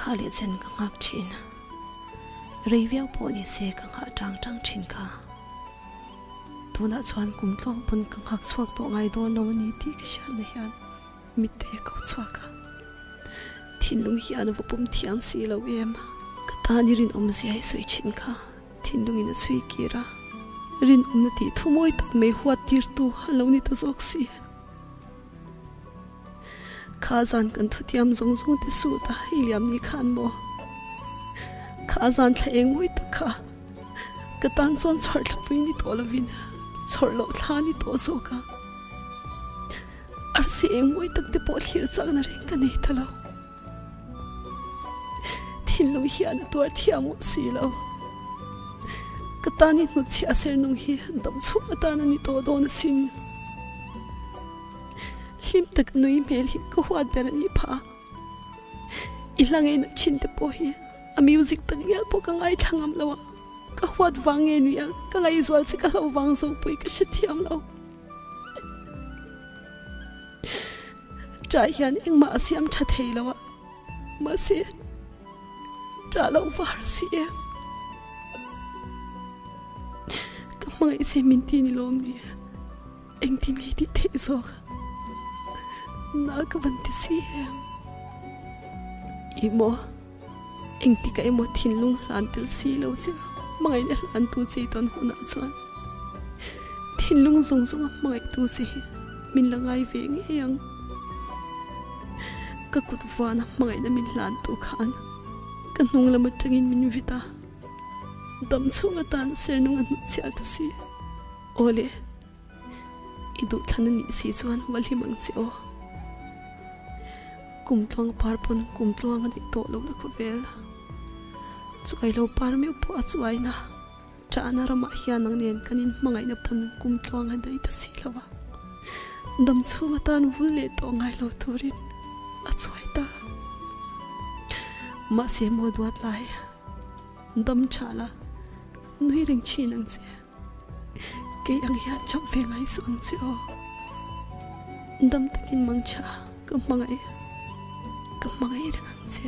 Kha leh chen ka nghak thin a. Rei viau pawh ni se ka nghah tang tang thin kha. Tunah chuan kum tlawng pawn ka nghak chhuak tawh ngai dawn lo a ni tih ka hriatna hian mitte a ko chhuak a. Thinlung hian a va pawm thiam si lo em. Ka tan i rinawmzia i sawi thin kha thinlungin a chhui kir a. Rinawmna tih thu mawi tak mai huat tirtu a lo ni ta zawk si. Kha zan kan thutiam zawng zawng te suh ta hei liam ni khan maw kha zan thla eng mawi tak kha ka tan chuan chhawrh thla pui ni tawh lovin chhawrh loh thla ni tawh zawk a arsi eng mawi tak te pawh thlir chakna reng ka nei ta lo. Thinlung hian a tuar thiam ngawt si lo. Ka tan i hnut chhiah sernung hi dam chhuk atan a ni tawh dawn a sin. Hlim tak a nui hmel hi ka huat ber a ni pha a. I hla ngei nat thin te pawh hi a music tak ngial pawh ka ngai thla ngam lo a. Ka huat vang nge nuih a, ka ngaihzual che ka hlo vang zawk pawh i ka hre thiam lo. Tra hian engmah a siam tha thei lo a, mahse tra loh var a si em? Ka hmangaih che min ti ni lawm nia, engtin nge tih theih zawk a, na ka van ti si em? I maw? Engtikah emaw thinlung hlan tel si lo che a, hmangaihna hlantu chei tawn hunah chuan thinlung zawng zawng a hmangaihtu che hi min la ngai ve ngei ang. Ka kut vana hmangaihna min hlantu khan ka hnung lam atangin min vit a, dam chhung atan sernung a hnutchhiah ka si. Aw le! I duhthana nih si chuan hualhlim ang che aw. Kum tluang par pawn kum tluang a nih tawh lohna khawvel. Chuai lo par meuh pawh a chuaina chahna ramah hian nang nen kan inhmangaihna pawn kum tluang a dai ta si lo a. Dam chhung atan vul leh tawh ngai lo turin a chuai ta. Mahse maw duat lai dam chhala nui reng thin ang che. Kei ang hian chawp ve ngai suh ang che aw. Dam takin mangchha ka hmangaih ka hmangaih reng ang che.